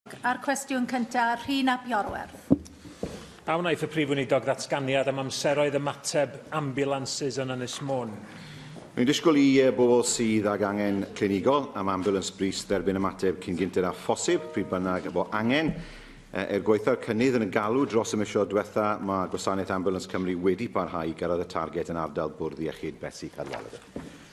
A'r cwestiwn cyntaf, Rhun ap Iorwerth. A wnaeth y Prif Weinidog ddatganiad am amseroedd ymateb ambiwlansys yn Ynys Môn? Mae'n disgwyl i bobl sydd ag angen clinigol am ambiwlans brys dderbyn ymateb cyn gynted â phosib, pryd bynnag bo angen. Er gwaetha'r cynnydd yn y galw dros y misoedd diwetha, mae Gwasanaeth Ambiwlans Cymru wedi parhau i gyrraedd y targed yn ardal Bwrdd Iechyd Betsi Cadwaladr.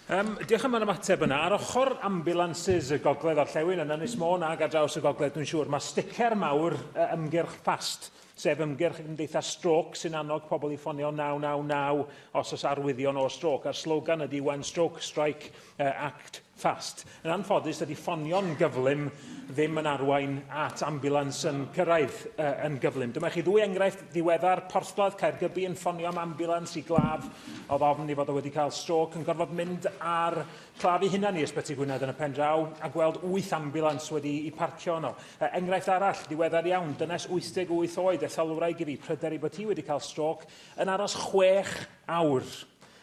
Yym, diolch am yr ymateb yna. Ar ochr ambulances y gogledd orllewin yn Ynys Môn ac ar draws y gogledd, dwi'n siŵr, mae sticer mawr uh, ymgyrch ffast, sef ymgyrch y Gymdeithas Stroc sy'n annog pobl i ffonio 999 os oes arwyddion o stroc, a'r slogan ydy When Stroke Strike, uh, Act Fast. Yn anffodus, dydy ffonio'n gyflym ddim yn arwain at ambulans yn cyrraedd uh, yn gyflym. Dyma chi ddwy enghraifft ddiweddar, Porthladd Caergybi yn ffonio am ambulans i glaf oedd ofn i fod o wedi cael stroc, yn gorfod mynd ar claf i hunan i ysbyty Gwynedd yn y pen draw a gweld wyth ambulans wedi i parcio yno. Uh, enghraifft arall, ddiweddar iawn, dynes 88 oed, etholwraig i fi, pryder i bod hi wedi cael stroc, yn aros chwech awr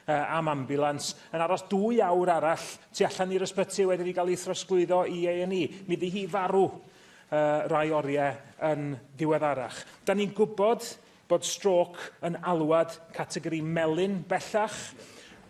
am ambiwlans yn aros dwy awr arall tu allan i'r ysbyty wedi wedi cael ei throsglwyddo i A&E. Mi ydy hi farw uh, rai oriau yn ddiweddarach. Da ni'n gwybod bod stroc yn alwad categori melyn bellach.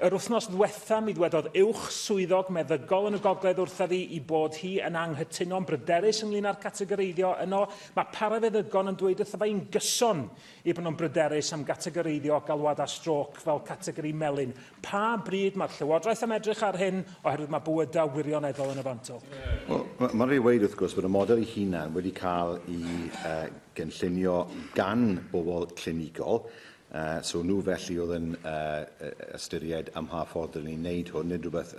Yr wythnos ddwetha mi ddwedodd uwch swyddog meddygol yn y gogledd wrtha fi i bod hi yn anghytuno'n bryderus ynglyn â'r categoreiddio yno. Mae parafeddygon yn dweud wrtho fe i'n gyson Er bod nhw'n bryderus am gategoreiddio galwadau strôc fel categori melyn, pa bryd mae'r Llywodraeth am edrych ar hyn oherwydd mae bywydau wirioneddol yn y fantol? Wel, mae'n rhaid i weud, wrth gwrs, bod y model ei hunan wedi cael ei uh, gynllunio gan bobl clinigol, uh, so nhw felly oedd yn uh, ystyried am mha ffordd dylwn ni'n wneud hwn, nid rhywbeth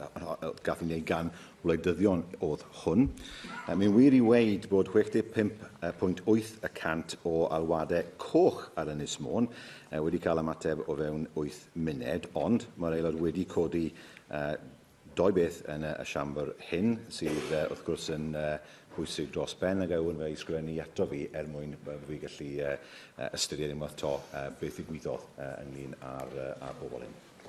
gath ei wneud gan wleidyddion oedd hwn. Mae'n wir i weid bod 65.8 y cant o alwadau coch ar Ynys Môn wedi cael ymateb o fewn 8 munud, ond mae'r Aelod wedi codi doi beth yn y Siambr hyn sydd wrth gwrs yn bwysig dros ben a gawyn fe'i sgrifennu ato fi er mwyn bod fi gallu ystyried unwaith to beth ddigwyddodd ynglyn â'r bobl hyn.